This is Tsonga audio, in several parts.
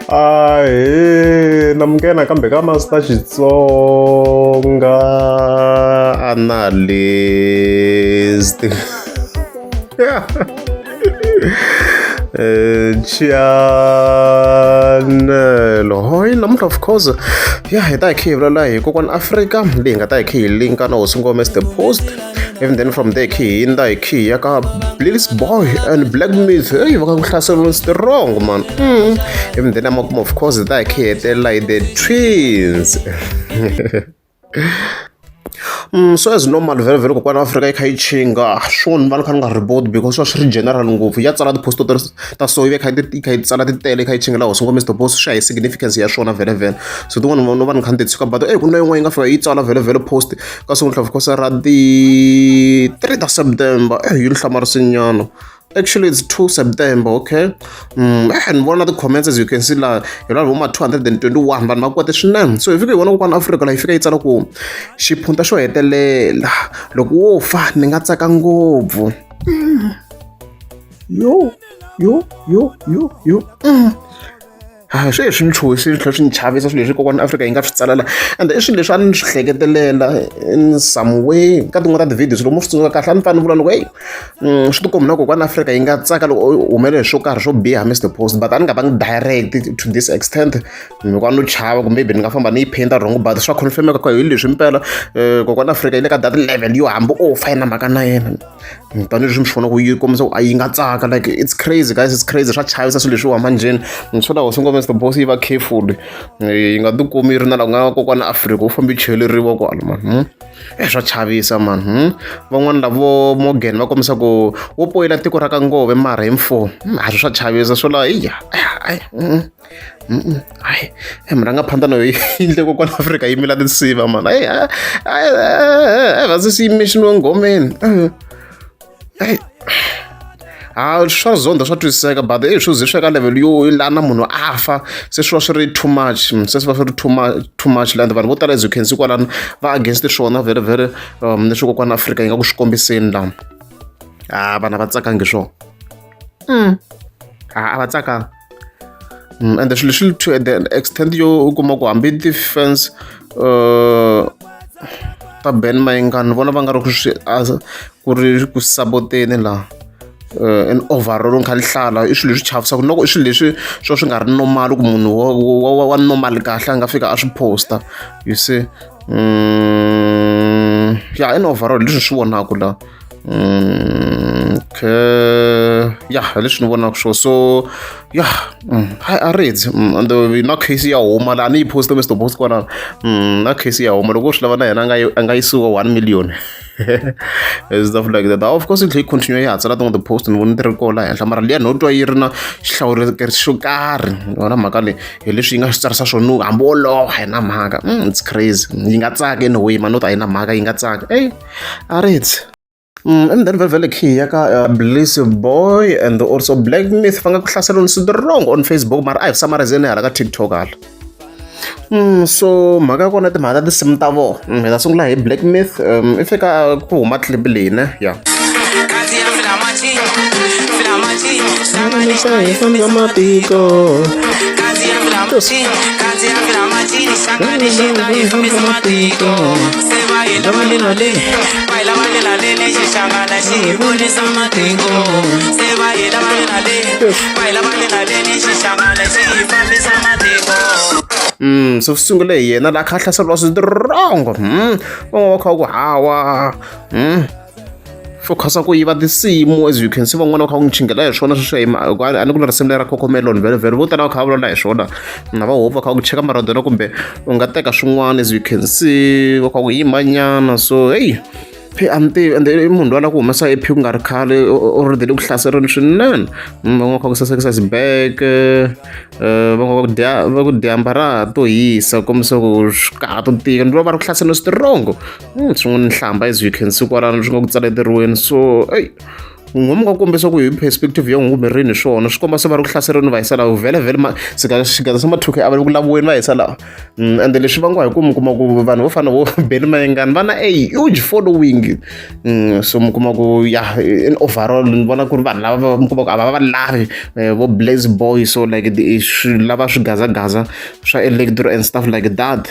ahe na munghena kambe ka masita xitsonga analyst Eh, chianelo hoyi namuntlha of course ya hi ta hi kha hi vulavula hi kokwana afrika leyi nga ta hi kha hi linka na hosi ngome as the post even then from there khe hi nda hi khe ya ka blix boy and black myth eyi va ka ku hlaseriwa strong man mm. even then amakumu of course ta hi khe hetelela hi the twins Mm, so as normal vele vele kokwana afrika yi kha yi chinga swo ni va ni kha ni nga riboti because swa swi ri general ngopfu ya tsala tiposto ta so yi ve kha yi kha yi tsala ti tele yi kha yi chingela hosi ngo mr boss swi ya hi significance ya swona vele vele so tin'wana no va ni kha ni ti tshuka but eyi ku na yin'wana yi nga fika yi tsala vele vele post ka siku ni tlhava kosa ra the three ta september eh yi ni hlamarisinyana actually it's 2 september okay mm, eh ni vona ti-comments as you can see laha hi lava voma 221 vanhu va kwate swinene so hi fike hi vona kokwana afrika laha yi fika yi tsala ku xiphunta xo hetelela loko wo fa ni nga tsaka ngopfu mm. yo yo yo yo yo mm. a swi hi swi ni chuhisi swi tlhela swi ni chavisa swilo leswi kokwana afrika yi nga swi tsalela ende i swilo leswi a ni swi hleketelela in some way ka tin'wana ta ti-videos loko mo swi tsundzuka kahle a ni fanele vula loko eyi mm, swi tikombi na kokwana afrika yi nga tsaka loko u humele hi swo karhi swo biha mr post but a ni nga vangi direct to this extent hikuva no chava kumbe maybe ni nga famba ni yi painta wrong but swa confirmeka ku hi leswi mpela um kokwana afrika yi le ka that level yo hambi o fa yi na mhaka na yena tanihileswi mi swi vona ku yi kombisa ku a yi nga tsaka like it's crazy guys it's crazy swa chavisa swilo leswiwa manjheni ni swo lawa swi nga mr boss yi va careful yi nga tikumi yi ri na laha ku nga kokwana afrika wu fambe cheleriwa kwala mani hmm? e swa chavisa mani hmm? van'wani lavo morgan va kombisa ku wo poyela tiko ra ka ngove mara hi mfo hmm, a swi swa chavisa swo lawa iya hayi e murhangaphanḓa no yindle ko kwala afrika yimela tinsiva mani hayi hayi vhasi swi yimexiniwe ngomeni hayi ha swa zonda swa twisiseka but i swi ze swi ya ka level yo lana munhu a fa se swi va swi ri too much se swi va swi ri too much too much land vanhu vo tala as you can see kwalano va against swona very very um leswi kokwana afrika yi nga ku swi kombiseni lama ha vana va tsakangi swona mm ha a va tsakanga Mm, and leswi leswi to the extent yo u kuma ku hambi ti-fans uh, ta ben mayingani ni vona va nga ri ku swi ku ri ku saboteni laha uh, an overall kha lihlala i swilo leswi chavisaka loko i swilo leswi swo swi nga ri normal ku munhu wa normal kahle a nga fika a swi posta you see mm, ya in overall leswi swi vonaka laha Mm, okay. Yeah, hi leswi ni vonaka sure. so yeah mm, hi a ri dzi mm, and uh, na case ya huma laha ni yi poste mr post kwana mm, na case ya huma loko u swi lava na yena a nga yisiwa one million stuff like that of course yi tlhe yi continue yi hatsela tin'wana ti-post ni voni ti ri koho laha henhla mara liya no twa yi ri na xihlawulekeri xo karhi yona mhaka leyi hi leswi yi nga swi tsarisa swona hambi wolowo a yi na mhaka it's crazy yi nga tsaka anyway manota a yi na mhaka yi nga tsaka ey a ri ndzi Mm, and then vevele key ya ka uh, bliss boy and also black myth va nga ku hlasela ni sidi wrong on facebook mara a hi samarizeni hala ka tiktok hala Mm, so mhaka ya kona timhaka ta tinsimu ta vona mm, hi ta sungula hi black myth um, i fika ku huma clip leyi ne ya yeah. Mm, so swi sungule hi yena la kha hlaseriwa swirongo mm, van'wana va kha va ku hawa mm. swo khasa ku yiva tinsimu as you can see van'wana va kha va n'wi chingela hi swona sweswo hikuva a ni ku na risimu leri ra cocomelon velevele vo tala va kha va vulavula hi swona na va hope va kha va ku cheka maradona kumbe u nga teka swin'wana as you can see va kha ku yimanyana so heyi phe a ni tivi ende i munhu loyi a lava ku humesa ephi ku nga ri khale already le ku hlaserini swinene van'wana va kha ku sasekisa xibeke eh, van'wana va ku dya va ku dyamba ra ha to hisa kombisa ku swi kaha to tika ni loko va ri ku hlaserini switirongo hmm, swi ngo ni hlamba as you can see kwalano swi nga ku tsaleteriweni so eyi ngomu ka kombisa ku hi perspective ya n'wingu mirini hi swona swi komba se va ri ku hlaseriweni va hisa laha vhele vhele xigaza xa mathuke a va le ku laviweni va hisa laha mm, ende leswi vangiwa hi ku mi kuma ku vanhu vo fana vo beli mayengani va na a huge following mm, so mi kuma ku ya in overall ni vona ku ri vanhu lava mi kuma ku a va va lavi eh, vo blaze boy so like lava swigazagaza swa electro and stuff like that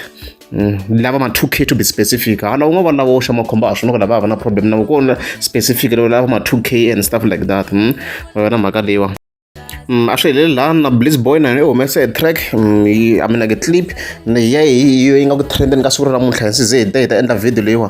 Mm, ni lava ma 2k to be specific hala u nga va lava oxa makhombo a swi na ku lava hava na problem na ku na specific leyi lava ma 2k and stuff like that mm, va na mhaka leyiwa Mm, a swi heleli laha na bliss boy na yona i humese track mm, i mean like clip ya hi yo yi nga ku trendeni ka siku ra namuntlha hi nsize hi ta hi ta endla video leyiwa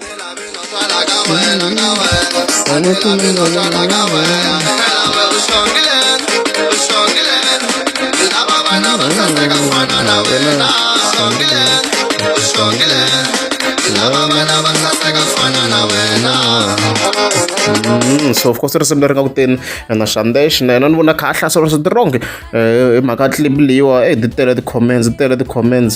Mm, so of course risimu leri nga ku teni na xandex na yena ni vona kha a hlasela swa tirongi hi mhaka clip leyiwa e ti tele ti-comments ti tele ti-comments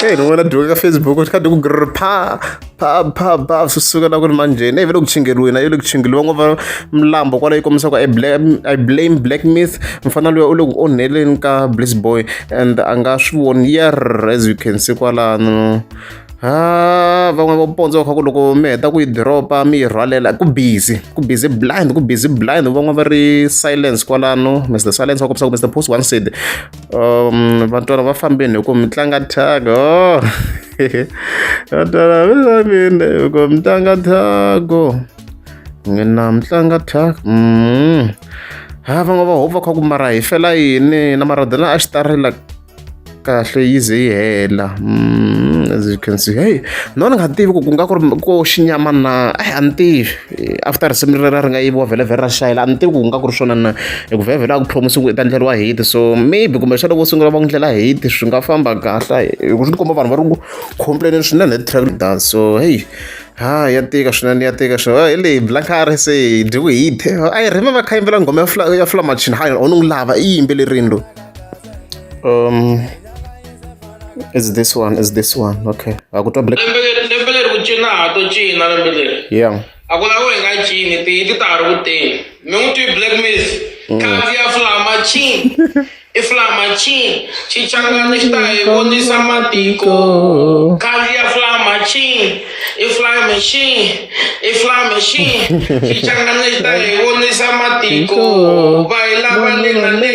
Hey, no wena dyoka Facebook u tikha ku grr pha pha pha pha swi suka la ku ri manjheni ivi loko chingeriwini a yi le ku chingeriwa ngo va mlambo kwala yi kombisa ku i blame i blame black myth mfana luya u le ku onheleni ka bliss boy and a nga swi voni yer as you can see kwalano Ah, van'wana va pondzo va kha ku loko mi heta ku yi diropa mi yi rhwalela ku busy ku busy blind ku busy blind van'wana va ri silence kwalano mr silence va kombisa ku mr post one said um vantwana va fambeni hi ku mi tlanga tag oh. vantwana va fambeni hi ku mi tlanga tag oh. n'wina mi tlanga tag mm ha van'wana va hope va kha ku mara hi fela yini na maradona a xi tarila kahle yi ze yi hela mm, as you can see hey no ni nga tivi ku ku nga ku ri ko xinyama na ai a ni tivi after risimu rera ri nga yiviwa vhele vhele ra xayela a ni tivi ku ku nga ku ri swona na hi ku vhele vhele a ku promise ku i ta ndleriwa hate so maybe kumbe xana vo sungula va ku ndlela hate swi nga famba kahle hi ku swi ni komba vanhu va ri ku complaineni swinene hi track dance so hey ha ya tika swinene ya tika swinene hi leyi blankari se hi dyiwe hate i remember kha yimbela nghoma ya fla ya flamachin ha onungu lava i yimbelerini loyi um is this one is this one okay akutwa black lembe leri ku cina ha to cina lembe leri yeah a ku laviwa hi nga cini ti ti ta ha ri ku teni mi n'wi twi black miss mm. khandziya flama cin i flama cin xichangani xi ta hi vonisa matiko khandziya flama cin i flame cin i flame cin xichangani xi ta hi vonisa matiko va hi lava le na le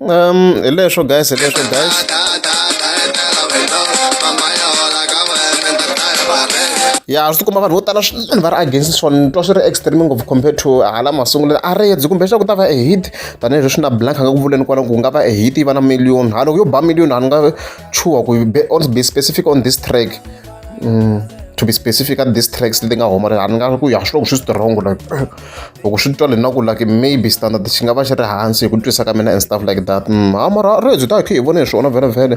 um hi leswo guys hi leswo guys ya swi tikomba vanhu vo tala swinene va ri against swona ni twa swi ri extreme ngopfu compared to hala masunguleni a redzi kumbe leswaku ta va e hit tanihileswi na blank a nga ku vuleni kwala ku nga va e hit yi va na million ha loko yo ba million a ni nga chuha ku on be specific on this track mm, to be specific at this tracks leti nga homa a ni nga ku ya swi loko swi strong like loko swi twa lena ku like maybe standard xi nga va xi ri hansi hi ku twisa ka mina and stuff like that mm, ha mara ri byi ta khe hi vone hi swona vhelemvhele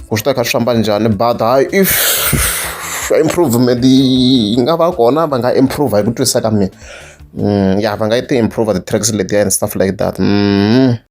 ku swi ta kha swi famba njhani but hayi if improvement yi nga va kona va nga improve hi ku twisa ka mina mm, ya va nga yi ti improve the tracks letiya and stuff like that mm.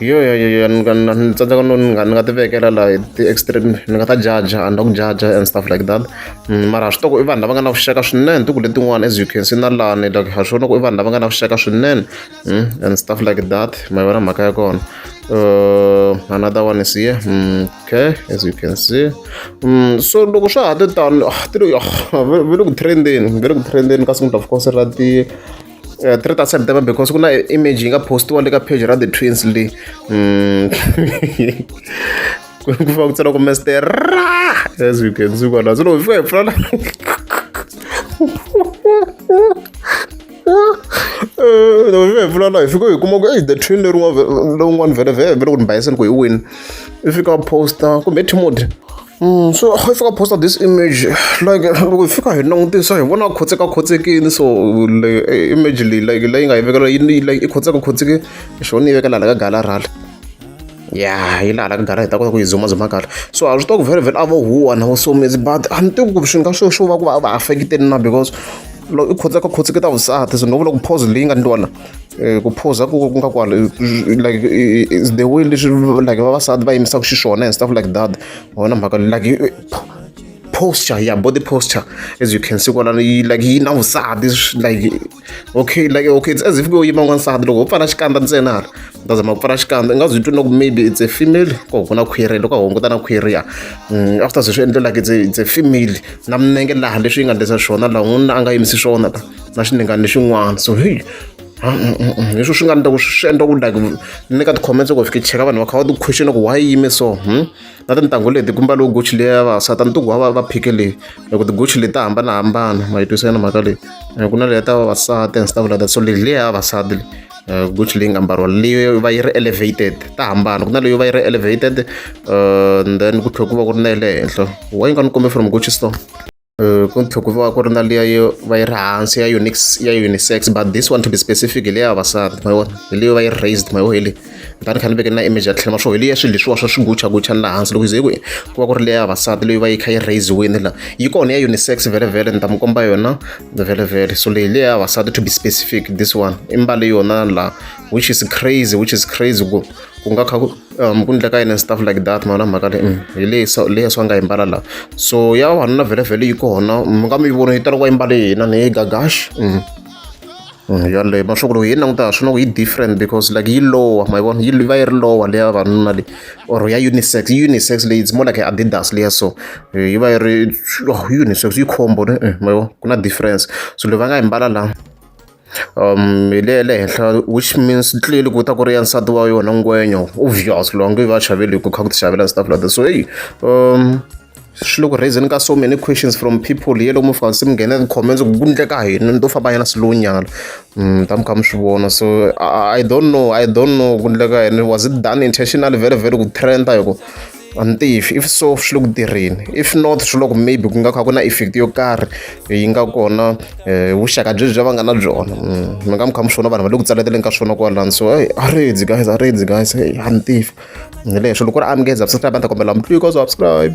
yo yo yo yo ni nga ni ni tsandzeka no ni nga ni nga ti vekela la hi ti-extreme ni nga ta jaja and ku jaja and stuff like that Mm, mara swi toko i vanhu lava nga na vuxaka swinene tiku letin'wana as you can see na lani like ha swi vona ku i vanhu lava nga na vuxaka swinene Mm, and stuff like that ma yi vona mhaka ya kona uh, another one is here Mm, okay as you can see Mm, so loko swa ha ti tano ah, ti le ah, ve le ku trendeni ve le ku trendeni ka siku ni ta fika se ra ti Eh, three ta september because ku na image yi nga postiwa le ka page ra the twins leyi mm. ku fa ku tsena ku mester as you can see kona solo fika hi pfula eh, vula la hi fika hi kuma ku ei the twin lowun'wana vhele vhele vhele ku ni bayiseni ku hi wini i fika posta kumbe timode Mm, so if I post this image, like loko hi fika hi langutisa hi vona khotseka khotsekini so eh, image leyi like leyi nga yi vekela yi like i khotseka khotseke xona yi vekela laha ka galarali ya yi laha ka gala hi ta kota ku yi zumazuma kahle so a swi tiva ku very very a vo huwa na vo somezi but a ni tivi ku swi nga swo swo va ku va va affekiteni na because loko i khotseka khotseke ta vusati so no vula ku pause leyi nga ni twana Eh, ku phuza ku ku nga kwala like is the way leswi like vavasati va yimisaka xiswona and stuff like that wona mhaka like posture yeah body posture as you can see kwala like yi na vusati like okay like okay it's as if ku yima n'wansati loko ho pfala xikandza ntsena hala ta zama ku pfala xikandza i nga zwi twi na ku maybe it's a female ko ku na khwiri loko a hunguta na khwiri ya mm, after se swi endle like it's a female na minenge laha leswi yi nga ndlisa swona laha n'wanuna a nga yimisi swona ta na xiningani lexin'wana so hi leswi swi nga ni ta ku swi endla ku like ni ka ti-comments loko fike cheka vanhu va kha va ti question ku why yime so hmm? na tintangu leti kumba loko gochi leyi ya vavasati a ni tiku va va phike leyi loko tigochi leti ta hambanahambana ma yi twisa yona mhaka leyi eh, ku na leyi ta vavasati and stuff like that so leyi leyi ya vavasati leyi eh, gochi leyi nga mbariwa leyi va yi ri elevated ta hambana ku na leyi va yi ri elevated eh, then ku tlhela ku va ku ri na ya le henhla wa yi nga ni kombe from gochi store ku tlhe ku va ku ri na liya yo va yi ri hansi ya unix ya unisex but this one to be specific hi leya vavasati ma vona hi leyo va yi raised ma yo hi le kutani kha ni veke na image ya tlhela ma swo hi leya swilo leswiwa swa swiguchaguchani laha hansi loko hi ze ku ku va ku ri leya vavasati leyi va yi kha yi raisiwini la yi kona ya unisex vhelevhele ni ta mi komba yona vhelevhele so leyi leya vavasati to be specific this one i mbale yona la which is crazy which is crazy ku ku nga kha ku um ku ndleka yini stuff like that mavona mhaka leyi mm, hi leyi so leyi swa nga yi mbala laha so ya vavanuna vhelevhele yi kona mi nga mi yi vona yi tala ku va yi mbale hina ni yi gagash mm. Mm, yaleyo mashoku loko hi yi languta swi na ku yi different because like yi lowa ma yi vona yi va yi ri lowa leya vavanuna leyi or ya unisex yi unisex leyi it's more like adidas leya so eh, yi va yi ri oh, unisex yi khombo eh, ma yi vona ku na difference so leyi va nga yi mbala laha um hi le ya le henhla which means clearly ku ta ku ri ya nsati wa yona ngwenya obvious loyi a nge va xaveli hi ku kha ku ti xavela stuff like that so heyi um swi le ku raiseni ka so many questions from people ye lomu fika se mi nghena ti-comments ku ku ndleka hina ni to famba yana slow nyana um ta mi kha mi swi vona so i don't know i don't know ku ndleka yini was it done intentionally very very ku trenda hi ku a ni tivi if so swi le ku tirheni if not swi loko maybe ku nga kha ku na effect yo karhi yi nga kona eh, vuxaka byebyi bya va nga na byona mm, mi nga mi kha mi swona vanhu va le ku tsaleteleni ka swona kwalani so hey aredzi guys aredzi guys hey a ni tivi hi leswo loko ri amukeza subscribe a ni ta kombela mutliko subscribe